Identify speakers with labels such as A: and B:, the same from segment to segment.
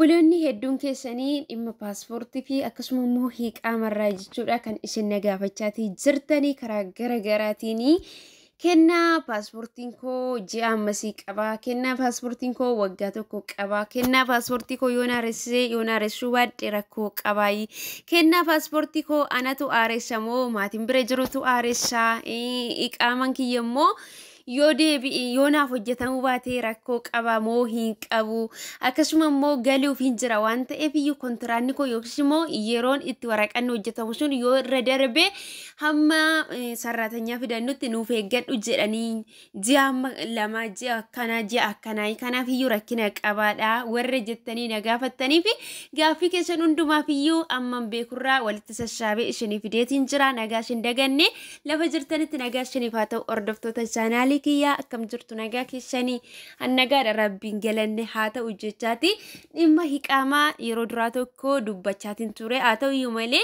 A: Obboloonni hedduun keessanii dhimma paaspoortii fi akkasuma immoo hiiqaamarraa jechuudha kan isin na gaafachaatii jirtanii karaa gara garaatiin kennaa paaspoortiin koo ji'a ammasii qabaa kennaa paaspoortiin koo waggaa tokko qabaa kennaa paaspoortii koo yoon aaressee yoon aaressuu baadhe rakkoo qabaayii kennaa paaspoortii koo anatu aaressa moo maatiin bira jirutu aaressa iqaaman kiyya immoo yoo deebi'e yoo naaf hojjetamuu baatee rakkoo qaba moo hin qabu akkasuma immoo galuuf hin jira waan ta'eef iyyuu kontiraanni koo yookiis immoo yeroon itti waraqanni hojjetamu sun yoo irra darbe hamma eh, sarraatanyaa fidannutti nuuf eeggadhu jedhanii ji'a amma lama ji'a akkanaa ji'a akkanaa kanaaf iyyuu rakkina qabaadha warra jettanii na gaafattanii fi gaaffii keessan hundumaaf iyyuu amman beekurraa walitti sassaabee isinii fideetiin jira nagaa isin daganne Lafa jirtanitti nagaa shaniif haa ta'u hordoftoota chaanaalii kiyyaa akkam jirtu nagaa keessanii hannagaadha rabbiin galanne haa ta'u jechaati dhimma hiqaamaa yeroo duraa tokko dubbachaatiin ture haa ta'u iyyuu malee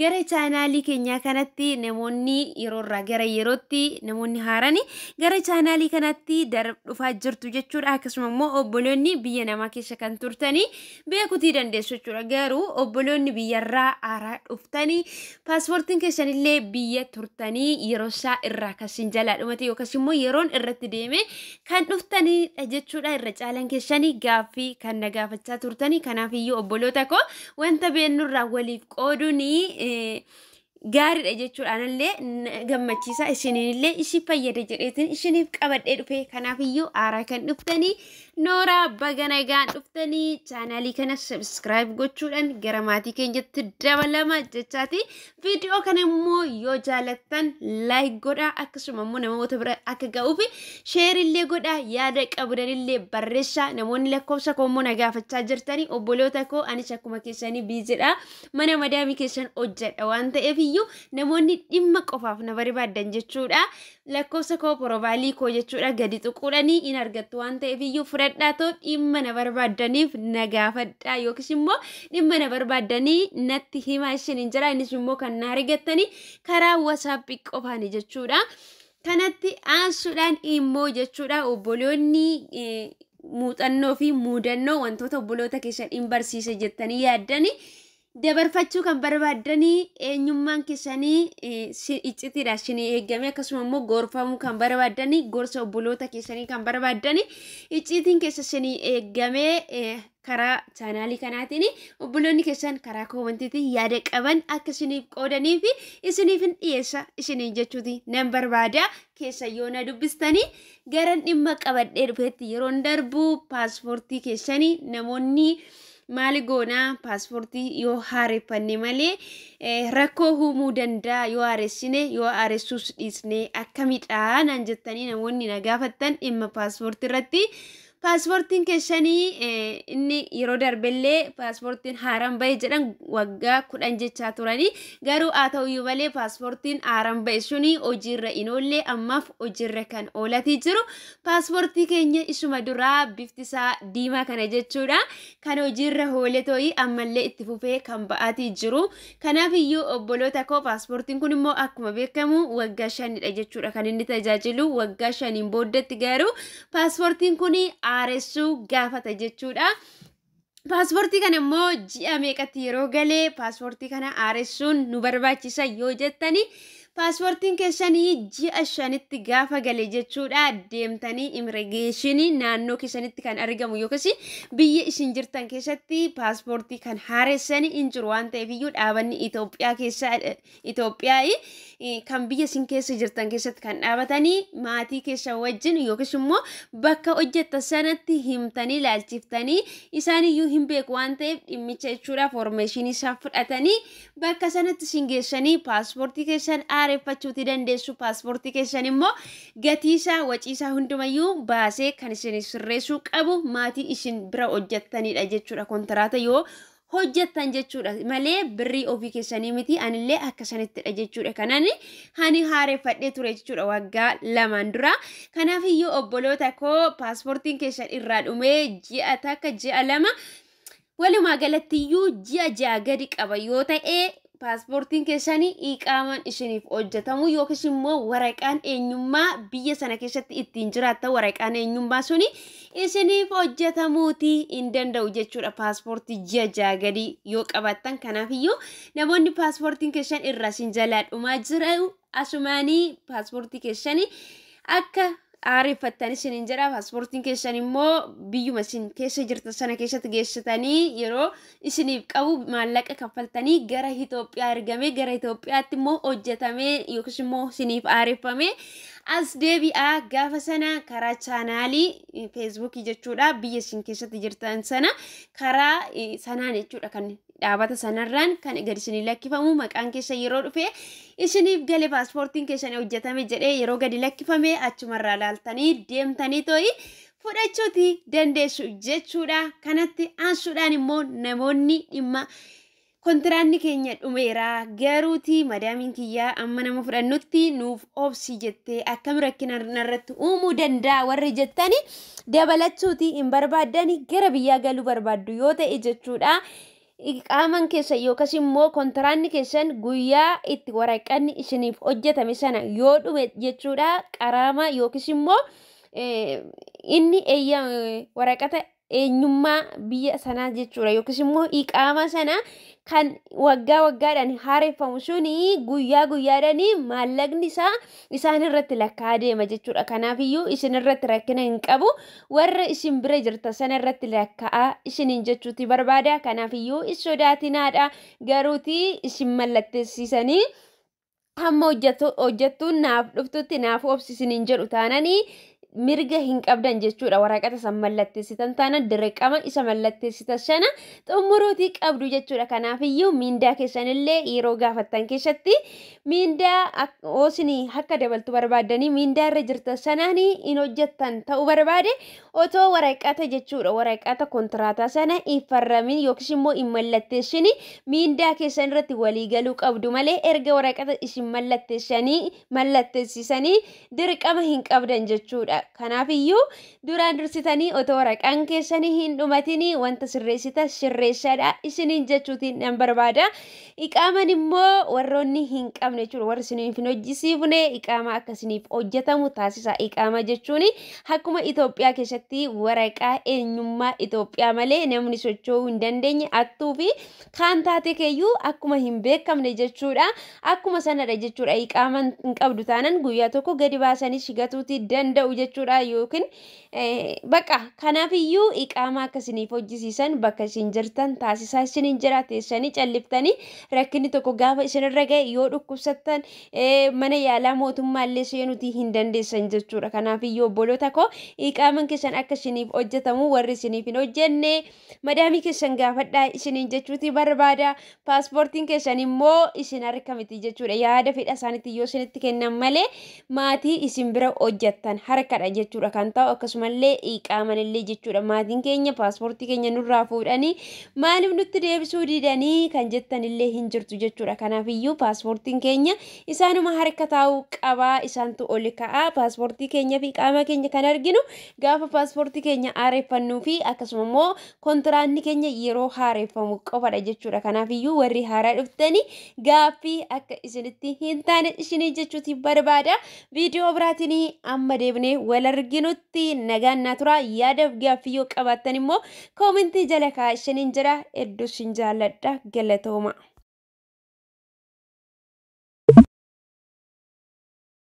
A: gara chaanaalii keenyaa kanatti namoonni yeroo irraa gara yerootti namoonni haarani gara chaanaalii kanatti darab dhufaa jirtu jechuudha akkasuma immoo obboloonni biyya namaa keessa kan turtanii beekutii dandeessu jechuudha. Garuu obboloonni biyyarraa aaraa dhuftanii paaspoortiin keessanillee biyya turtanii yeroo isaa irraa kasin jalaa dhumate yookas immoo yeroon irratti deeme kan dhuftanidha jechuudha. Irra caalan keessanii gaaffii kan na gaafachaa turtanii kanaaf iyyuu obboloota koo wanta beennurraa waliif qooduun gaariidha jechuudha anallee na gammachiisa isiniinillee isin fayyada jedheetiin isiniif qabadhee dhufe kanaafiyyuu aaraa kan dhuftanii nooraa baga nagaan dhuftanii chaanaalii kana sabskiraayib gochuudhaan gara maatii keenyatti dabalama jechaati viidiyoo kana immoo yoo jaalattan laayik godhaa akkasuma immoo namoota bira akka ga'uufi sheerillee godhaa yaada qabdanillee barreessaa namoonni lakkoofsa koo immoo na gaafachaa jirtanii obboloota koo anis akkuma keessanii biizidha mana madaamii keessan hojjedha waan ta'eef iyyuu namoonni dhimma qofaaf na barbaaddan jechuudha. Lakkoofsa koo porobaalii koo jechuudha gadi tuquudhanii in argattu waan ta'eef iyyuu fudhadhaa too dhimma na barbaaddaniif na gaafadhaa yookiis immoo dhimma na barbaaddanii natti himaa isin hin jira innis immoo kan na argattanii karaa wasaappii qofaani jechuudha. Kanatti aansuudhaan immoo jechuudha obboloonni muuxannoo fi muudannoo wantoota obboloota keessan in barsiise jettanii yaaddanii dabarfachuu kan barbaaddanii eenyummaan keessanii iccitiidha isinii eegame akkasuma immoo gorfamuu kan barbaaddanii gorsa obboloota keessanii kan barbaaddanii icciitiin keessa isinii eegamee karaa chaanaalii kanaatiin obboloonni keessan karaa koomantiitiin yaada qaban akka isiniif qoodanii fi isiniif hin dhiyeessa isiniin jechuuti nan barbaada keessa yoo na dubbistanii garan dhimma qabadhee dhufeetti yeroon darbu paaspoortii keessanii namoonni maali goonaa paaspoortii yoo haareffanne malee eh, rakkoo uumuu danda'a yoo haaressine yoo haaressuus dhiisne akkamidhaa naan jettanii namoonni na gaafattan dhimma paaspoortii irratti Paaspoortiin keessanii inni yeroo darbellee paaspoortiin haaraan ba'e jedhan waggaa kudhan jechaa turanii garuu haa ta'uyyuu malee paaspoortiin haaraan ba'e suni hojiirra hin oolle ammaaf hojiirra kan oolatii jiru paaspoortii keenya isuma duraa bifti isaa diimaa kana jechuudha kan hojiirra oole ta'ii ammallee itti fufee kan ba'aatii jiru kanaaf iyyuu obboloota koo paaspoortiin kun immoo akkuma beekamu waggaa shanidha jechuudha kan inni tajaajilu waggaa shaniin booddetti garuu paaspoortiin kun haaressuu gaafata jechuudha. Paaspoortii kana immoo ji'a meeqatti yeroo galee paaspoortii kana haaressuun nu barbaachisa yoo jettani paaspoortiin keessanii ji'a shanitti gaafa gale jechuudha deemtanii imiregeeshinii naannoo keessanitti kan argamu yookiis biyya isin jirtan keessatti paaspoortii kan haaressani hin jiru waan ta'eef iyyuu dhaabanni Itoophiyaa keessa Itoophiyaa kan biyya isin keessa jirtan keessatti kan dhaabatanii maatii keessa wajjin yookiis immoo bakka hojjettan sanatti himtanii laalchiftanii isaan iyyuu hin beeku waan ta'eef dhimmicha jechuudha foormeeshinii isaan fudhatanii bakka sanatti isin geessanii paaspoortii keessan aareffachuuti dandeessu paaspoortii keessan immoo gatiisaa waciisaa hundumayyuu baasee kan isin sirreessuu qabu maatii isin bira hojjettanidha jechuudha kontiraata yoo hojjettan jechuudha malee birrii ofii keessanii miti anillee akka sanittidha jechuudha kanan hani haareffadhee ture jechuudha waggaa lamaan dura kanaaf iyyuu obboloota koo paaspoortiin keessan irraa dhumee ji'a takka ji'a lama walumaa galatti iyyuu ji'a ja'a gadi qaba yoo ta'e paaspoortiin keessan iqaamaan isiniif hojjetamu yookiis immoo waraqaan eenyummaa biyya sana keessatti ittiin jiraatta waraqaan eenyummaa suni isiniif hojjetamuuti hin danda'u jechuudha paaspoortii ji'a ja'a gadii yoo qabaattan kanaafiyyuu namoonni paaspoortiin keessan irraa isin jalaa dhumaa jiru Asumaanii paaspoortii keessanii akka aareffattan isiniin jedha. Paaspoortiin keessan immoo biyyuma isin keessa jirtan sana keessatti geessitanii yeroo isiniif qabu maallaqa kaffaltanii gara Itoophiyaa ergamee gara Itoophiyaatti immoo hojjetamee yookiis immoo isiniif aareffamee as deebi'aa gaafa sana karaa chaanaalii feesbuukii jechuudha biyya isin keessatti jirtan sana karaa eh, sanaan jechuudha kan Dhaabata sanarraan kan gad isinii lakkifamu maqaan keessan yeroo dhufe isiniif gale paaspoortiin keessan hojjetame jedhee yeroo gadi lakkifame achumarraa laaltanii deemtanii too'i fudhachuuti dandeessu jechuudha. Kanatti aansuudhaan immoo namoonni dhimma kontiraanni keenya dhumeera garuuti madaamiin kiyyaa amma nama fudhannutti nuuf obsi jettee akkam rakkina narratti uumuu danda'a warri jettani dabalachuutii hin barbaaddani gara biyyaa galuu barbaaddu yoo ta'e jechuudha. Iqaaman keessan yookas immoo kontiraanni keessan guyyaa itti waraqanni isiniif hojjetame sana yoo dhume jechuudha qaraama yookiis immoo inni eeyya waraqata eenyummaa biyya sanaa jechuudha yookiis immoo iqaama sana kan waggaa waggaadhaan haareffamu suni guyyaa guyyaadhaan maallaqni isaa isaan irratti lakkaa'aa deema jechuudha. Kanaafiyyuu isin irratti rakkina hin qabu. Warra isin bira jirta sana irratti lakkaa'aa isiniin jechuuti barbaada. Kanaafiyyuu hin sodaatinaadha. Garuuti isin mallatteessisanii hamma hojjattuun naaf dhuftutti naaf obsisiniin jedhu taananii mirga hin qabdan jechuudha waraqata san mallatteessitan taana dirqama isa mallatteessitan sana xumuruutii qabdu jechuudha kanaafiyyuu miindaa keessanillee yeroo gaafattan keessatti miindaa oosini akka dabaltu barbaaddanii miindaa irra jirtan sanaan hin hojjettan ta'uu barbaade otoo waraqata jechuudha waraqata kontiraataa sana hin farramin yookiis immoo hin mallatteessini miindaa keessan irratti walii galuu qabdu malee erga waraqata isin mallatteessanii mallattessisanii dirqama hin qabdan jechuudha. Kanaaf iyyuu duraan dursitanii otoo waraqaan keessanii hin dhumatinii wanta sirreessita sirreessadha isiniin jechuutiin nan barbaada. Iqaaman immoo warroonni hin qabne jechuudha warri isiniif hin hojjisiifne iqaamaa akka isiniif hojjetamu taasisa. Iqaamaa jechuun akkuma Itoophiyaa keessatti waraqaa eenyummaa Itoophiyaa malee namni socho'uu hin dandeenye attuu fi kaan taatee keeyyuu akkuma hin beekamne jechuudha. Akkuma sanadha jechuudha. Iqaama hin qabdu taanan guyyaa tokko gadi baasanii shigatuuti danda'u jechuudha yookiin baqa kanaafiyyuu iqaama akka isiniif hojjisiisan bakka isin jirtan taasisaa isiniin jira teessanii calliftanii rakkinni tokko gaafa isinirra ga'e yoo dhukkubsattan mana yaalaa mootummaallee seenuuti hin dandeessan jechuudha. Kanaafiyyuu obboloota koo iqaaman keessan akka isiniif hojjetamu warri isiniif hin hojjenne madaamii keessan gaafadhaa isiniin jechuuti barbaada paaspoortiin keessan immoo isin harka miti jechuudha yaada fedha isaaniitti yoo isinitti kennan malee maatii isin bira hojjattan harkadha jechuudha kan ta'u akkasumallee iqaamanillee jechuudha maatiin keenya paaspoortii keenya nurraa fuudhanii maaliif nutti deebisuu didanii kan jettanillee hin jirtu jechuudha kanaaf iyyuu paaspoortiin keenya isaanuma harka taa'uu qabaa isaantu ol ka'aa paaspoortii keenya fi qaama keenya kan arginu Gaafa paaspoortii keenya haareffannuu fi akkasuma immoo kontiraanni keenya yeroo haareffamu qofadha jechuudha. Kanaaf iyyuu warri haaraa dhuftanii gaaffii akka isinitti hin taane isinii jechuuti barbaada. Viidiyoo biraatiin amma deebinee wal arginutti nagaan naa tura. Yaadaaf gaaffii yoo qabaattan immoo koomentii jala kaa'aa isiniin jedha. Hedduu isin jaalladha. Galatooma.